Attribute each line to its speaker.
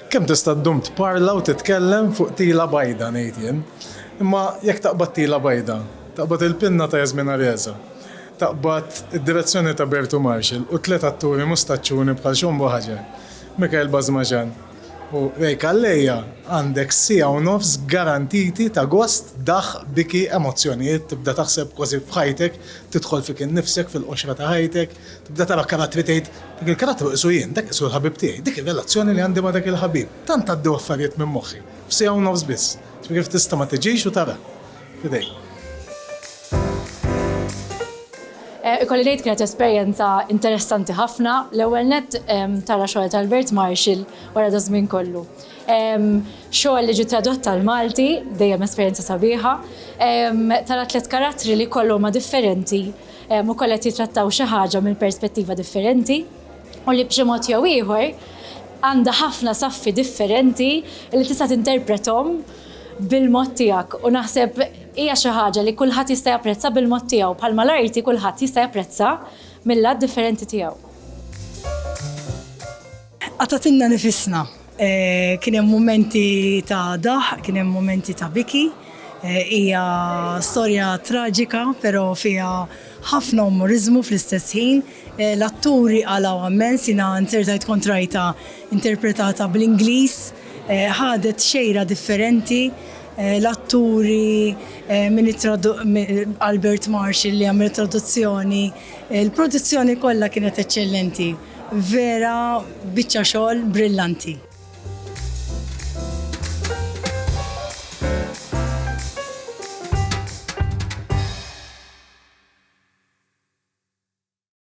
Speaker 1: Kemm tista' ddum tparla u titkellem fuq tila bajda, ngħid jien. Imma jekk taqbad tila bajda, taqbad il-pinna ta' Yasmin Areza, taqbad id-direzzjoni ta' Bertu Marshall u tliet atturi mustaċċuni bħal Xombo Hajar, Mikhail Bazmazhan, U Ray Calleja, għandek siegħa u nofs garantiti ta' gost, daħq, biki, emozzjonijiet, tibda taħseb kważi f'ħajtek, tidħol fik innifsek, fil-qoxra ta' ħajtek, tibda tara karattri tgħid, dak il-karattru qisu jien, dak qisu l-ħabib tiegħi, dik ir-relazzjoni li għandi ma' dak il-ħabib. Tant għaddew affarijiet minn moħħi, f'siegħa u nofs biss. Ġifieri kif tista' ma tiġix u tara? F'idejk.
Speaker 2: Ikolli ngħid kienet esperjenza interessanti ħafna. L-ewwel nett tara xogħol ta' Albert Marshall wara da żmien kollu. Xogħol li ġi tradott tal-Malti, dejjem esperjenza sabiħa. Tara tliet karattri li kollha huma differenti u kollha qed jitrattaw xi ħaġa minn perspettiva differenti u li b'xi mod jew ieħor għandha ħafna saffi differenti li tista' tinterpretom bil-mod tiegħek u naħseb hija xi ħaġa li kulħadd jista' japprezza bil-mod tiegħu bħalma l-arti kulħadd jista' japprezza mill-lat differenti tiegħu.
Speaker 3: Qatgħatilna nifisna. Kien hemm mumenti ta' daħq, kien hemm mumenti ta' biki. Hija storja traġika però fiha ħafna umoriżmu fl-istess ħin. L-atturi qalgħu ammens, jiena nzertajt kontrajta interpretata bl-Ingliż. Ħadet xejra differenti. L-atturi minn Albert Marsh li għamel it-traduzzjoni. Il-produzzjoni kollha kienet eċċellenti. Vera biċċa xogħol brillanti.